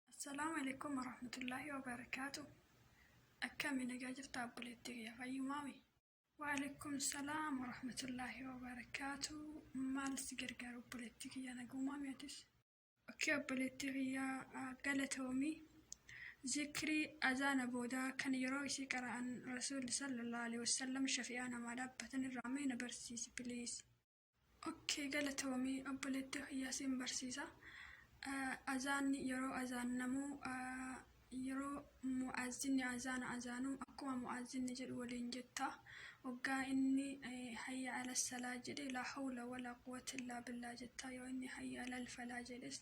Assalaamu alaikum warahmatullaahi wabarakaatu Akkami nagaa jirtaa obboleettii kiyya fayyumaami? Waalaikum salaam warahmatullaahi wabarakaatu Maal si gargaaru obboleettii kiyya nagumaami atis? Okkee obboleettii kiyya galatoomi Zikrii azaana booda kan yeroo isii qara'an Rasuulli sallallahu alaihi wasallam shafi'aa namaa dhaabbatan irraa mee na barsiisi please. Ok galatoomi obboleetti kiyyaa sin barsiisa. Azaanni yeroo azaannamu yeroo mu'aazinni azaana azaanu akkuma mu'aazinni jedhu waliin jetta. Oggaa inni hayya ala salaa jedhe laa hawla walaa quwwata illaa billaa jetta. Yoo inni hayya alal falaa jedhes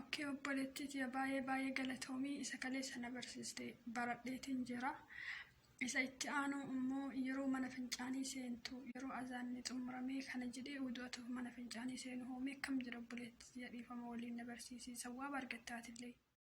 Ok obboleettii tiya baay'ee baay'ee galatoomii isa kaleessa na barsiiste baradheetiin jira. Isa itti aanu immoo yeroo mana fincaanii seentu yeroo azaanni xumuramee kana jedhee udu'atuuf mana fincaanii seenu hoomee akkam jedha obboleettii tiya dhiifama waliin na barsiisii sawwaaba argattaatillee.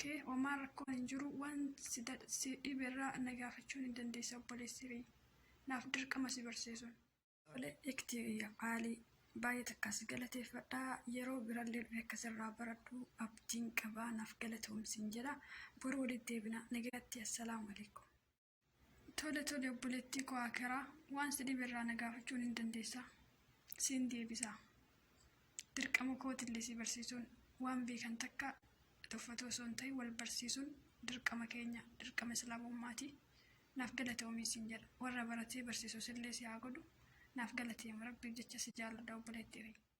Kee homaa rakkoo hin jiru waan si si dhibe irraa na gaafachuu ni dandeessa obboleessi kiyya. Naaf dirqama si barsiisuun. Tole ikti kiyya qaalii. Baay'ee takkaa si galateeffadha. Yeroo birallee dhufe akka sirraa baradhu abdiin qaba. Naaf galatoomi siin jedha. Boru walitti deebina. Nagaatti. Assalaamu alaikum. Tole tole obboleettii koo Akeraa waan si dhibe irraa na gaafachuun hin dandeessa. Siin deebisa. Dirqama kootillee si barsiisuun waan beekan takka tuffatuu osoo hin ta'in wal barsiisuun dirqama keenya dirqama islaamummaati. Naaf galatoomii siin jedha. Warra baratee barsiisusillee si haa godhu. Naaf galateema rabbiif jecha si jaalladha obboleettii kiyya.